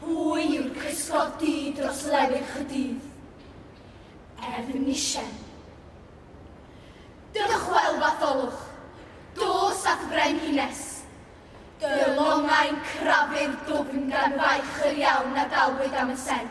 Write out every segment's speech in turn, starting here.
Pwy yw'r cysgodi dros lefydd Chydydd? Efnisien. Dychwel, Fatholwch, dos at frenhines. Dy longau'n crafu'r dwfn gan faich yr iawn a dalwyd am y sen.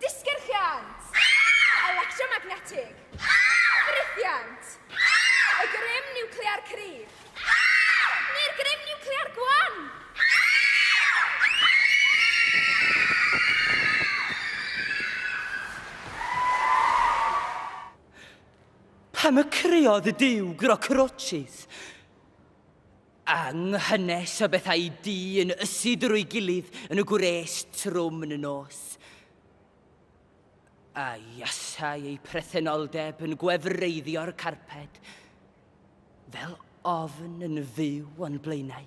Disgyrchiant! Electromagnetig! Ffrithiant! Y grym niwclear cryf! Neu'r grym niwclear gwan! Pam y creodd y duw grocrochis? A nghynnes o bethau du yn ysu drwy gilydd yn y gwres trwm yn y nos. A iasau ei prethenoldeb yn gwefreiddio'r carped, fel ofn yn fyw o'n blaenau.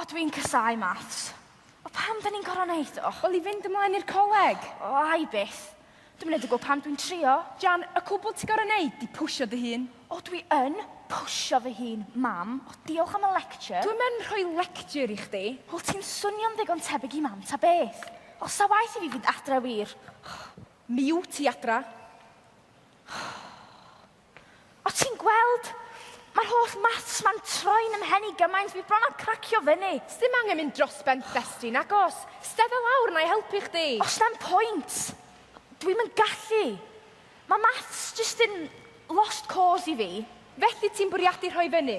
O dw i'n casáu maths. O pam da ni'n gorfod neud o? Wel i fynd ymlaen i'r coleg. O ai byth. Dwi'm yn neud o gwbl pam dwi'n trio. Jan, y cwbl ti gorfod neud di pwsio dy hun. O dwi yn pwsio fy hun, mam. O diolch am y lecture. Dwi'm yn rhoi lecture i chdi. Wel ti'n swnio'n ddigon tebyg i mam ta beth. O sa waeth i fi fynd adre wir. Mi wt ti adra. O ti'n gweld? Mae'r holl maths ma'n troi'n ym mhen i gymaint, fi bron â cracio fyny. Sdim angen mynd dros ben Bestie, nagos. Stedda lawr, na i helpu chdi. Os na'm pwynt. Dwi'm yn gallu. Mae maths jyst yn lost cause i fi. Felly ti'n bwriadu rhoi fyny?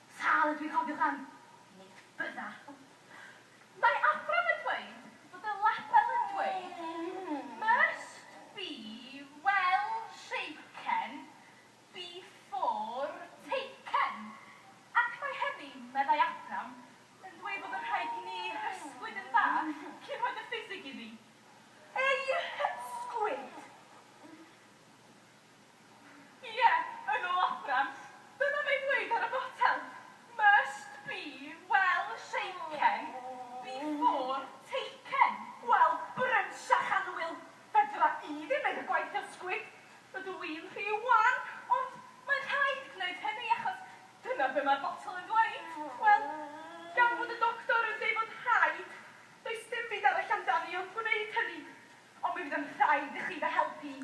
Sal ydw i'n cofio dan Nick Byrra. Mae Abram yn dweud bod y label yn dweud must be well shaken before taken ac mae hynny, meddai Abram, yn dweud bod yn rhaid i ni hysgwyd yn dda cyn rhoi dy ffisig iddi. Ei hysgwyd! Ie, yn ôl Abram, dyma fe'n dweud ar y botel, must be well shaken before taken. Wel, brynsach annwyl, fedra i ddim neud y gwaith ysgwyd, ydw i'n rhy wan, ond mae'n rhaid gwneud hynny achos dyna be mae'r botel yn ddweud. Wel, gan fod y doctor yn deud fod rhaid, does dim byd arall amdani ond gwneud hynny. Ond mi fydd yn rhaid i chi fy helpu i.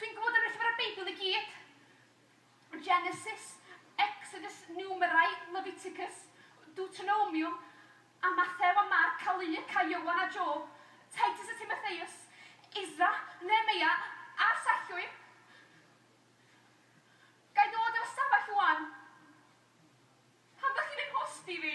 Dwi'n gwybod yr Llyfrau Beibl i gyd, Genesis, Exodus, Numerai, Leviticus, Deuteronomium, a Mathew a Marc a Luc a Ioan a Job, Titus a Timotheus, Esra, Nehemeia, a'r Sallwyr. Ga i ddod ar y stafell 'wan? Pam 'dych chi'n 'y nghwsdi fi?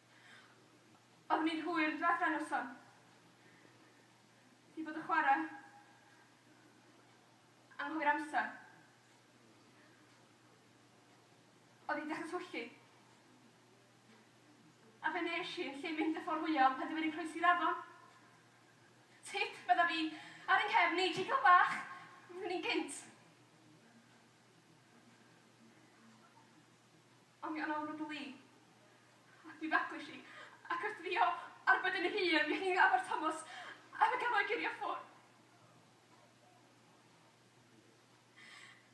Oeddwn i'n hwyr dwetha noson i fod y chwara. Anghywir amser. Oedd hi'n dechra twyllu. A fe nes i yn lle mynd y ffordd fwya o penderfynu croesi'r afon. Tip, fydda fi ar yng nghefn i, jiglo bach, fyddwn i'n gynt. Ond mi o'n ofn y bli. Ac mi fagwyd hi, ac wrth fi o arbed yn hŷn, mi o'ch chi'n afar Tomos, a fe gafodd ei girio ffwr.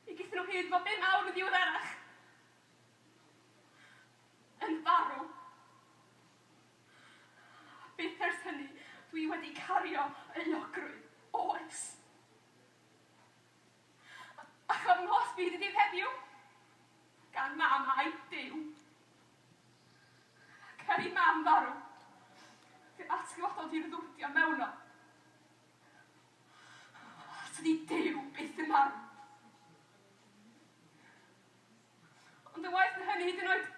Mi gethon nhw hyd fo bum awr yn ddiweddarach, yn farw. A byth ers hynny dwi wedi cario euogrwydd, oes. Ac am holl fyd y ddydd heddiw, gan Mam a'i Duw. Ac er i Mam farw, fe atgyfododd hi'r ddwrdio mewnol. Os ydy Duw byth yn marw. Ond yn waeth na hynny, hyd yn oed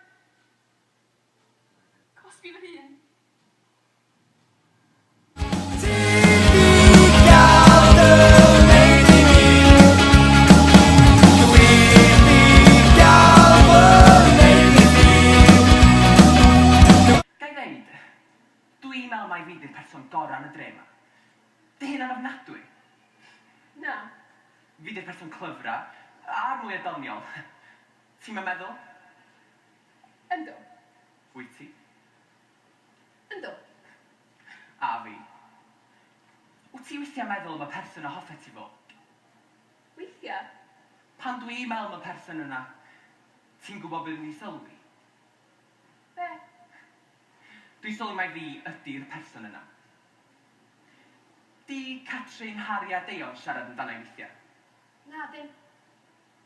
Cosbi fy hun. Ga i ddeud, dw i'n meddwl mai fi ydy'r person gorau yn y dre yma. Dy hunan ofnadwy. Na. Fi ydy'r person clyfra, a'r mwya doniol. Ti'm yn meddwl? Yndw. Wyt ti? Yndw. A fi. Wyt ti weithiau'n meddwl am y person a hoffet ti fo? Weithiau. Pan dw i'n meddwl am y person yna, ti'n gwybod be dwi'n sylwi? Be? Dwi'n sylwi mai fi ydi'r person yna. 'Di Catrin, Harri a Deion siarad amdana i weithiau? Nadyn.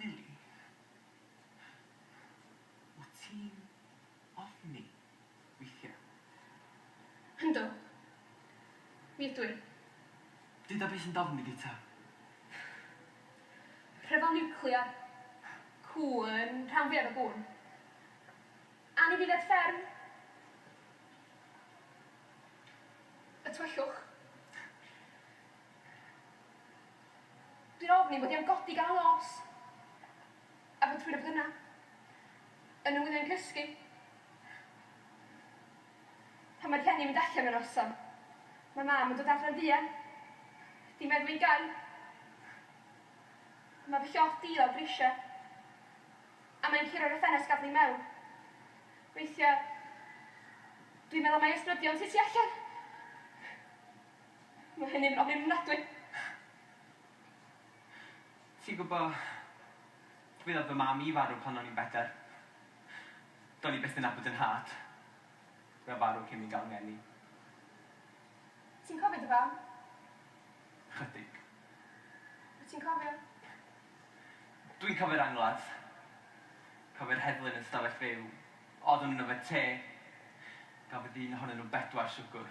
Lili, Wyt ti'n ofni weithiau? Yndw. Mi ydw i. Duda beth sy'n d'ofni di ta? Rhyfel niwclear, cŵn, rhan fwyaf o gŵn. Anifeiliaid fferm. Y tywyllwch. Dwi'n ofni mod i am godi gan nos a fod rhywun yn bod yna yn 'y ngwyliau'n cysgu pan mae rhieni'n mynd allan y noson. Mae Mam yn dod adre'n fuan. Di meddw i'n gau. Mae fy llofft di lawr grisiau a mae'n curo'r y ffenest gadael i mewn. Weithiau dwi'n meddwl mai ysbrydion sy tu allan. Mae hynny'n ofnadwy! Ti'n gwbo, mi ddoth fy mam i farw pan o'n i'n bedair. Do'n i byth yn nabod 'yn nhad. Mae o farw cyn fi ga'l 'ngeni. Ti'n cofio dy fam? Chydig. Wyt ti'n cofio? Dwi'n cofio'r angladd. Cofio'r heddlu yn y stafell fyw. Oeddwn yn yfed te. Gafodd un ohonyn nhw bedwar siwgwr.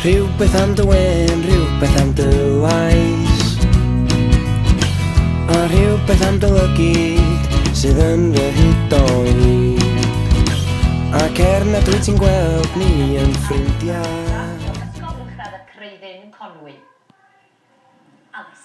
Rhywbeth am dy wen, rhywbeth am dy waith A rhywbeth am dy lygyd sydd yn fy hyd o'i lid Ac er nad wyt ti'n gweld ni yn ffrindiau Ysgol Uwchradd y Creuddyn, Conwy. Alys.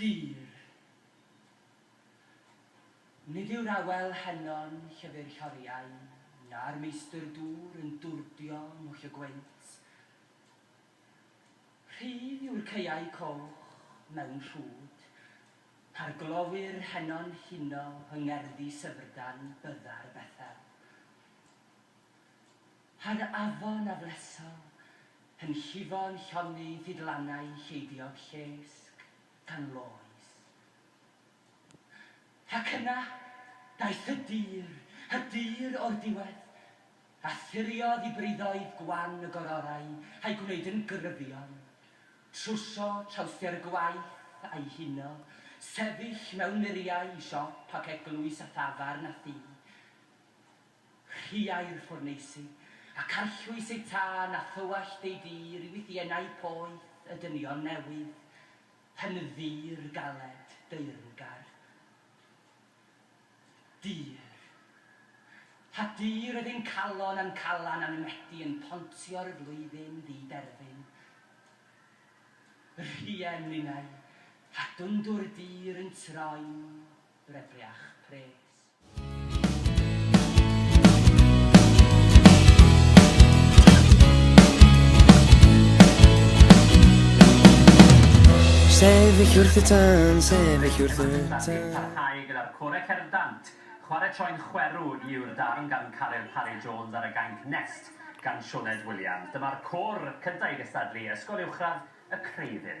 Dir. Nid yw'r awel heno'n llyfr lloriau, na'r meistr dŵr yn dwrdio mhwll y gwynt. Rhydd yw'r caeau coch mewn rhwd, pa'r glowyr heno'n huno yng ngerddi syfrdan byddar Bethel. Rhag afon a bleso, yn llifo'n llonydd hyd lannau lleiddiog llesg, gan loes. Ac yna, daeth y dur, y dur o'r diwedd, a thiriodd i briddoedd gwan y gororau a'i gwneud yn gryfion, trwsio trawsder gwaith a'i huno, sefyll mewn muriau i siop ac eglwys a thafarn a thu. Rhiai'r ffwrneisi, ac arllwys eu tân a thywallt eu dir i wythiennau poeth y dynion newydd, yn ddir galed, deyrngar. Dir. A dir oedd ein calon a'n calan a'n medi yn pontio'r flwyddyn ddi-derfyn. Rhien ninnau, a dwndwr dir yn troi'n brebriach pres. Sefyll wrth y tân, sefyll wrth y tân. Parhau gyda'r Core Cerddant. Chwarae Troi'n Chwerw yw'r darn gan Caryl Parry Jones ar y gainc Nest gan Sioned Williams. Dyma'r côr cyntaf i gystadlu, Ysgol Uwchradd y Creuddyn.